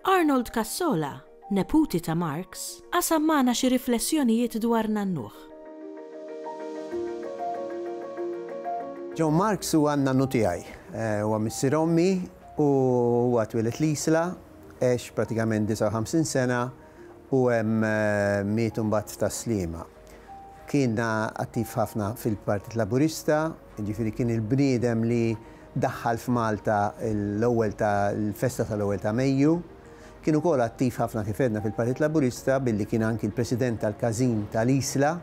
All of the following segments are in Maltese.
Arnold Cassola, neputi ta' Marx, qasam magħna xi riflessjonijiet dwar nannuh. John Marx huwa n-nannu tiegħi. Huwa missier ommi u huwa twieled l-Isla, għex pratikament 59 sena u hemm miet imbagħad tas-Sliema. Kien attiv ħafna fil-Partit Laburista. Jiġifieri kien il-bniedem li daħħal f'Malta l-ewwel ta' l-festa tal-ewwel ta' Mejju. Kien ukoll attiv ħafna kif għedna fil-Partit Laburista billi kien anki l-President tal-Każin ta' l-Isla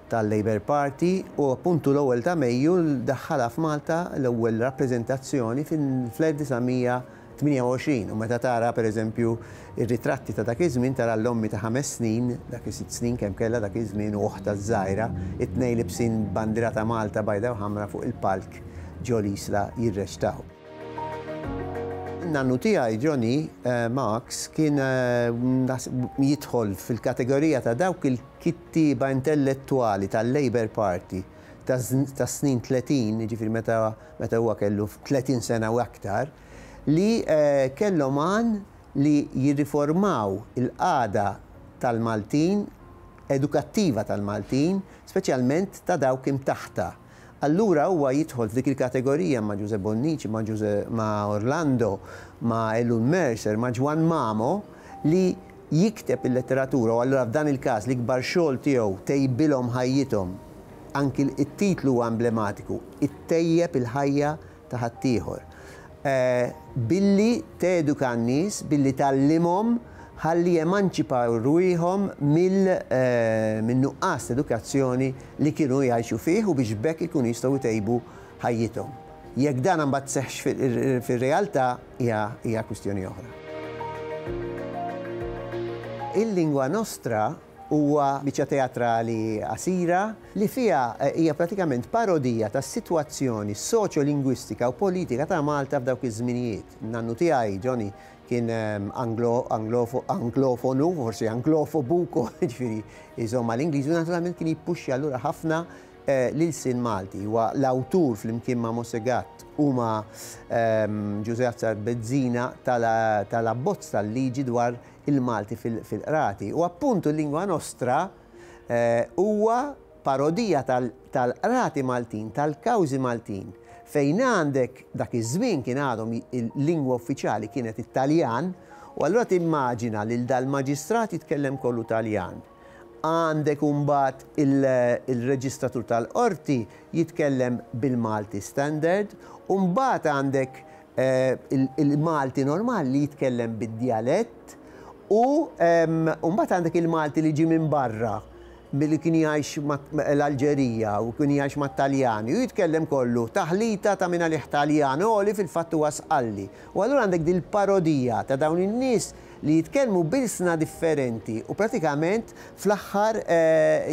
tal-Labour Party u appuntu l-ewwel ta' Mejju daħħalha f'Malta l-ewwel rappreżentazzjoni fl-1900 28 u meta tara, per eżempju, ir-ritratti ta' dak iż-żmien tara l-ommi ta' ħames snin, dak is-sitt snin kemm kellha dak iż-żmien u oħtha ż-żgħira, it-tnejn libsin bandiera ta' Malta bajda u ħamra fuq il-palk ġo l-Isla jirreċtaw. Nannu tiegħi, Johnny, Max, kien jidħol fil-kategorija ta' dawk il-kittieba intellettwali tal-Labour Party tas-snin tletin, jiġifieri meta meta huwa kellu 30 sena u aktar, li kellhom għan li jirriformaw il-qagħda tal-Maltin, edukattiva tal-Maltin, speċjalment ta' dawk imtaħta. Allura huwa jidħol f'dik il-kategorija ma' Ġużè Bonnici, ma' Ġużè, ma' Orlando, ma' Elun Mercer, ma' Ġwann Mamo li, jikteb il-letteratura u allura f'dan il-każ l-ikbar xogħol tiegħu tejbilhom ħajjithom, anki t-titlu huwa emblematiku, ittejjeb il-ħajja ta' ħaddieħor. Billi teduka n-nies, billi tgħallimhom ħalli jemanċipaw rwieħhom min-nuqqas ta' edukazzjoni li kienu jgħixu fih u biex b'hekk ikunu jistgħu jtejbu ħajjithom. Jekk dan mbagħad seħħx fir-realtà, hija kwistjoni oħra. Il-Lingua Nostra huwa biċċa teatrali qasira li fiha hija pratikament parodija tas-sitwazzjoni soċjolingwistika u politika ta' Malta f'dawk iż-żminijiet. Nannu tiegħi, Johnny, kien anglofonu, forsi anglofobu wkoll, jiġifieri jżomm mal-Ingliżi u naturalment kien jippuxxja lura ħafna L-ilsien Malti huwa l-awtur flimkien ma' Mosè Gatt u ma' Ġużè Azzard Bezzina tal-abbozz tal-liġi dwar il-Malti fil-Qrati. U appuntu Lingua Nostra huwa parodija tal-Qrati Maltin, tal-kawżi Maltin, fejn għandek, dak iż-żmien kien għadhom il-lingwa uffiċjali kienet it-Taljan, u allura timmaġina lil dal-maġistrat jitkellem kollu Taljan. Għandek imbagħad il-reġistratur tal-qorti jitkellem bil-Malti standard u mbagħad għandek il-Malti normali li jitkellem bid-djalett u mbagħad għandek il-Malti li ġie minn barra milli kien jgħix l-Alġerija u kien jgħix mat-Taljani u jitkellem kollu taħlita ta' minn għalih Taljan għoli fil-fatt huwa Sqalli u allura għandek din il-parodija ta' dawn in-nies li jitkellmu b'ilsna differenti u pratikament fl-aħħar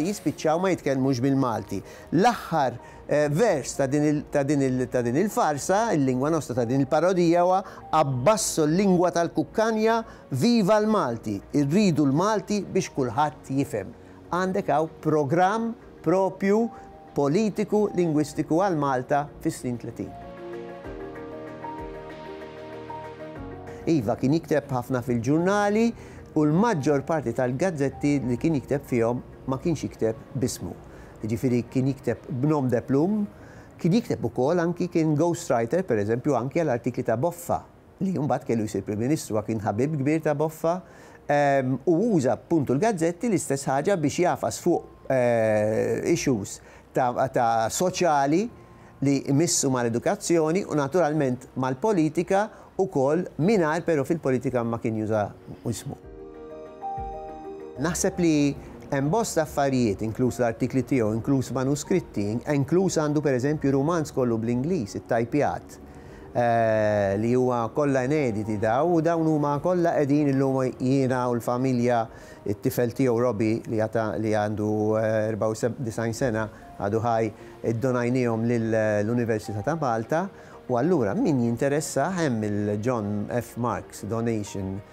jispiċċaw ma jitkellmux bil-Malti. L-aħħar vers ta' din il-farsa, il-lingwa nostra ta' din il-parodija huwa Abbasso l-lingwa tal-kukkanja, viva l-Malti, irridu l-Malti biex kulħadd jifhem. Għandek hawn programm proprju politiku lingwistiku għal Malta fis-snin tletin. Iva, kien jikteb ħafna fil-ġurnali u l-maġġor parti tal-gazzetti li kien jikteb fihom ma kienx jikteb b'ismu. Jiġifieri kien jikteb b'nom de plume, kien jikteb ukoll anki kien ghostwriter, pereżempju, anki għal artikli ta' Boffa li mbagħad kellu jsir Prim Ministru għax kien ħabib kbir ta' Boffa, u uża appuntu l-gazzetti l-istess ħaġa biex jagħfas fuq issues ta' soċjali li jmissu mal-edukazzjoni u naturalment mal-politika wkoll mingħajr però fil-politika ma kien juża ismu. Naħseb li hemm bosta affarijiet, inkluż l-artikli tiegħu, inkluż manuskritti, inkluż għandu pereżempju rumanz kollu bl-Ingliż, ittajpjat. Art, li huwa kollha inediti dawn, u dawn huma kollha qegħdin illum jiena u l-familja, it-tifel tiegħu Robbie li għad li għandu 94 sena għadu ħaj, iddonajniehom lill-Università ta' Malta, u allura min jinteressah hemm il-John F. Marks Donation,